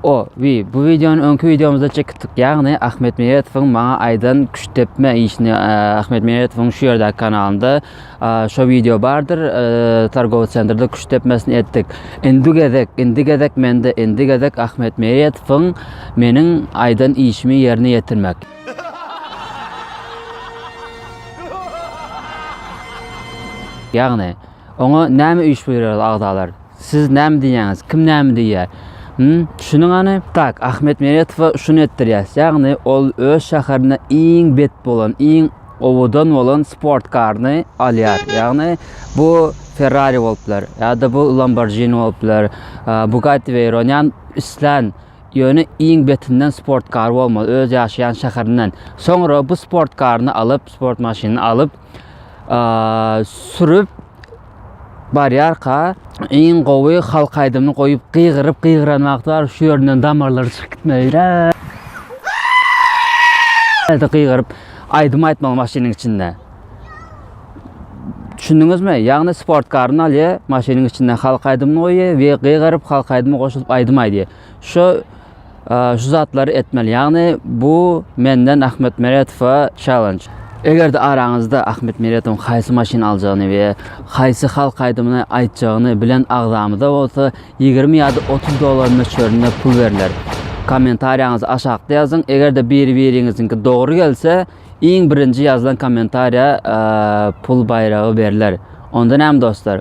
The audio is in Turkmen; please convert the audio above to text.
O, wi, bu wideony öňki wideomyzda çekipdik. Ýagny Ahmet Meýetowyň maňa aýdan küşt depme işini Ahmet Meýetowyň şu ýerdäki kanalynda şo wideo bardyr. Targowy sentrde küşt depmesini etdik. Indi gezek, indi gezek mende, indi gezek Ahmet Meýetowyň meniň aýdan işimi ýerine ýetirmek. Ýagny, oňa näme iş buýurýarys agzalar? Siz näme diýýäňiz? Kim näme diýýär? Hum, düşüniň hany. Tak, Ahmet Meretowa şuny etdirýäs, ýagny ol öz şäherinde iň bet bolan, iň owadan bolan sportkaryny alýar. Ýagny bu Ferrari bolup biler, ýa-da bu Lamborghini bolup biler, Bugatti Veyron, ýagny islän, ýöne iň betinden sportkary bolmaly, öz ýaşaýan şäherinden. Soňra bu sportkaryny alyp, sport maşynyny alyp, sürüp, Barýarka, iň gowy halk aýdymyny goýup gygyryp gygyran wagty baryp şu ýerinden damarlary çykyp gitmeli. Ýa-da gygyryp aýdym aýtmaly maşynyň içinde. Düşündiňizmi? Ýagny sport karyny alýar, maşynyň içinde halk aýdymyny goýýar we gygyryp halk aýdymy goşulyp aýdym aýdýar. Şu şu zatlary etmeli. Ýagny bu menden Ahmet Meretowa challenge. Eger-de araňyzda Ahmet Meretowyň haýsy maşyny aljagyny we haýsy halk aýdymyny aýtjagyny bilen agzamyza bolsa ýigrimi ýa-da otuz dollar möçberinde pul berler. Kommentariýaňyzy aşakda ýazyň. Eger-de biri-biriňiziňki dogry gelse, iň birinji ýazylan kommentariýa pul baýragy berler. Onda näme dostlar?